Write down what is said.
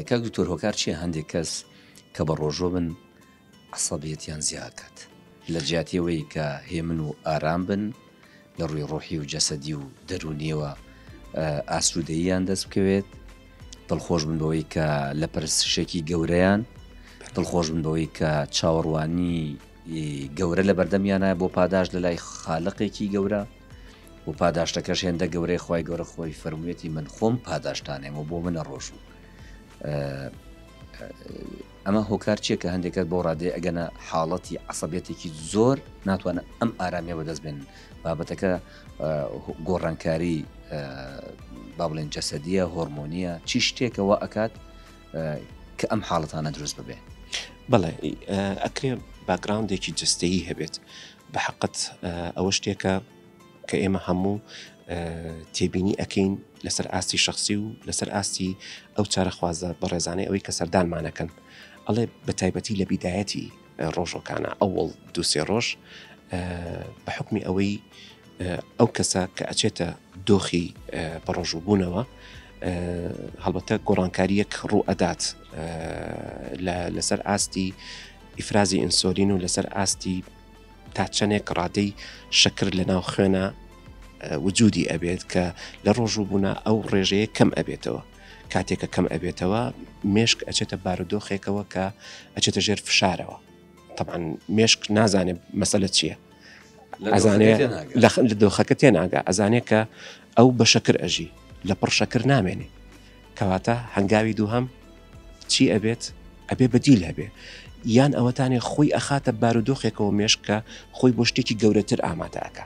کاک دکتۆر هۆکار چیە هەندێک کەس کە بە ڕۆژۆ بن عەسەبیەتیان زیاکات لە جیاتی ئەوەی کە هێمن و ئارام بن لە ڕووی ڕۆحی و جەسەدی و دەرونیەوە ئاسوودەییان دەست بکەوێت دڵخۆش بن بەوەی کە لە پرسشێکی گەورەیان دڵخۆش بن بەوەی کە چاوەڕوانی گەورە لە بەردەمیانە بۆ پاداش لە لای خالقێکی گەورە و پاداشتەکەش هێندە گەورەی خی گەورە خۆی فەرموویەتی من خۆم پاداشتانێم و بۆ منە ڕۆژ و ئەمە هۆکار چیە کە هەندێکت بۆ ڕادێ ئەگەنە حاڵەتی عسەبێتێکی زۆر ناتوانە ئەم ئارامیە بەدەست بێن بابەتەکە گۆڕانکاری با بڵێن جەسەدیە هۆرمۆنیە چی شتێکەوە ئەکات کە ئەم حاڵەتانە دروست ببێ بەڵێ ئەکرێ باگراندێکی جستەیی هەبێت بە حقت ئەوە شتێکە کە ئێمە هەموو تێبینی ئەەکەین لەسەر ئاستی شخصی و لەسەر ئاستی ئەو چارەخوازە بەڕێزانەی ئەوەی کە سەردانمانەکەن ئەڵێ بە تایبەتی لە بیدایەتی ڕۆژەکانە ئەوڵ دوسێ ڕۆژ بە حکمی ئەوەی ئەو کەسە کە ئەچێتە دۆخی بەڕۆژوو بوونەوە هەڵبەتە گۆڕانکاریەک ڕوو ئەدات لەسەر ئاستی ئیفرازی ئینسۆلین و لەسەر ئاستی تا چەندێک ڕادەی شەکر لە ناو خوێنە وجودی ئەبێت کە لە ڕۆژوو بوونا ئەو ڕێژەیە کەم ئەبێتەوە کاتێکە کەم ئەبێتەوە مێشک ئەچێتە بارودۆخێکەوە کە ئەچێتە ژێر فشارەوە طبعا مێشک نازانێ مەسەلە چییە ئەزانێ لە دۆخەکە تێناگە ئەزانێ کە ئەو بە شەکر ئەژی لە پڕ شەکر نامێنێ کەواتە هەنگاوی دووهم چی ئەبێت ئەبێ بەدیل هەبێ یان ئەوەتانێ خۆی ئەخاتە بارودۆخێکەوە مێشکە خۆی بۆ شتێکی گەورەتر ئامادەکە